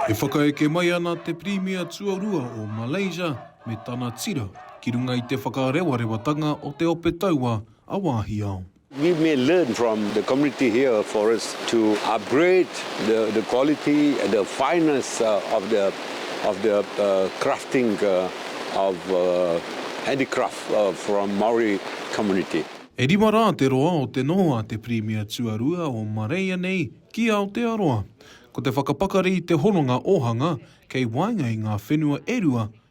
E whakaeke mai ana te Pirimia tuarua o Malaysia me tana tira ki runga i te whakarewawatanga o te ope taua a Wāhiao. We may learn from the community here for us to upgrade the quality and the fineness of the crafting of handicraft from Maori community. E rima rā te roa o te noho a te Pirimia tuarua o Marea nei ki Aotearoa. Ko te whakapakari i te hononga ōhanga kei waenga i ngā whenua e rua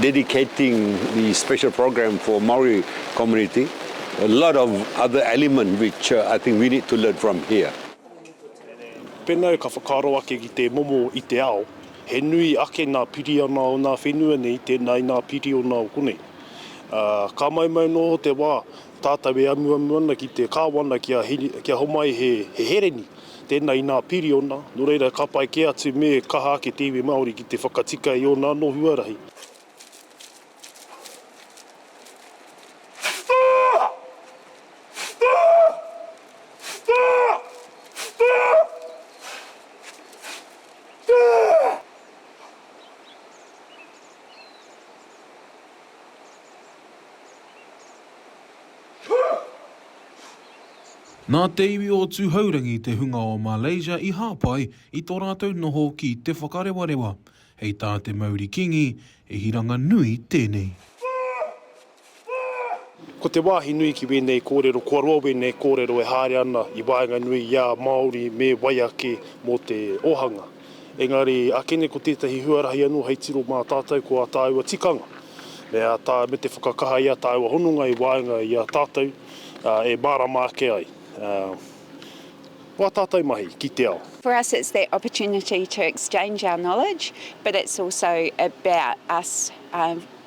dedicating the special program for Maori community, a lot of other element which I think we need to learn from here. Pēnā ka whakaaro ake ki te momo i te ao, he nui ake nā piriona o nā whenua nei tēnā i nā piriona o konei. Ā, ka maumau noho te wā, tātau e amuamu ana ki te kāwana kia, kia homai he, he hereni. Tēnā inā piriona, nō reira ka pai kē atu me kaha ake te iwi Māori ki te whakatika i ōna anō huarahi. Nā te iwi o Tūhourangi te hunga o Malaysia i hāpai i tō rātou noho ki Te Whakarewarewa. Hei tā te mauri kīngi, he hiranga nui tēnei. Ko te wāhi nui ki wēnei kōrero, kua roa wēnei kōrero e haere ana i waenganui i a Māori me wai ake mō te ōhanga. Engari, akene ko tētahi huarahi anō hei tiro mā tātou ko ā tāua tikanga, me ā tā, me te whakakaha i ā tāua hononga i waenga i a tātou, ā, e mārama ake ai, ā, wā tātou mahi ki te ao. For us it's that opportunity to exchange our knowledge, but it's also about us, ā,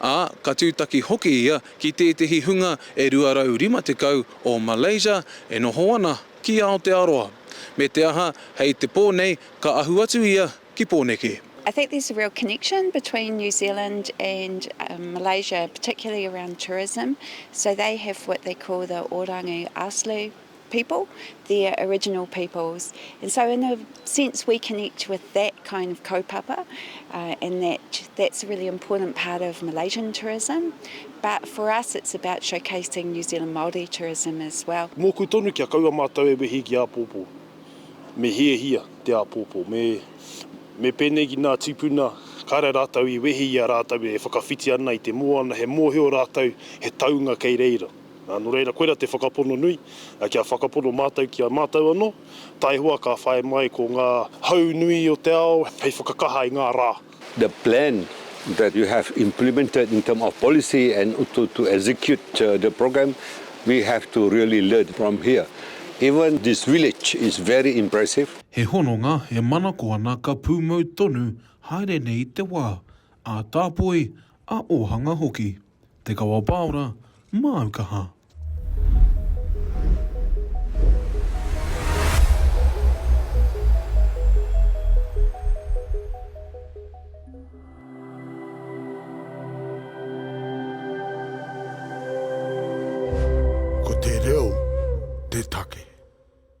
ā, ka tūtaki hoki ia ki tētehi hunga e 250 o Malaysia e noho ana ki Aotearoa, me te aha, hei te pō nei ka ahu atu ia ki Pōneke. I think there's a real connection between New Zealand and Malaysia, particularly around tourism, so they have what they call the Orangu Aslu people, their original peoples. And so in a sense we connect with that kind of kaupapa uh, and that that's a really important part of Malaysian tourism. But for us it's about showcasing New Zealand Māori tourism as well. Mōku tonu kia kaua mātou e wehi ki āpōpō. Me hiahia te āpōpō. Me, me pēnei ki nā tīpuna, kāre rātou i wehi i a rātou e whakawhiti ana i te moana, he mōhio rātou, he taunga kei reira. Ā, nō reira, koirā te whakapono nui, kia whakapono mātou ki a mātou anō, taihoa ka whai mai ko ngā hau nui o te ao hei whakakaha i ngā rā. The plan that you have implemented in terms of policy and to to execute the program, we have to really learn from here. Even this village is very impressive. He hononga e manako ana ka pūmau tonu haere nei te wā, ā-tāpoi, ā-ōhanga hoki. Te Kawapaora, māu kaha. Ko te reo te take.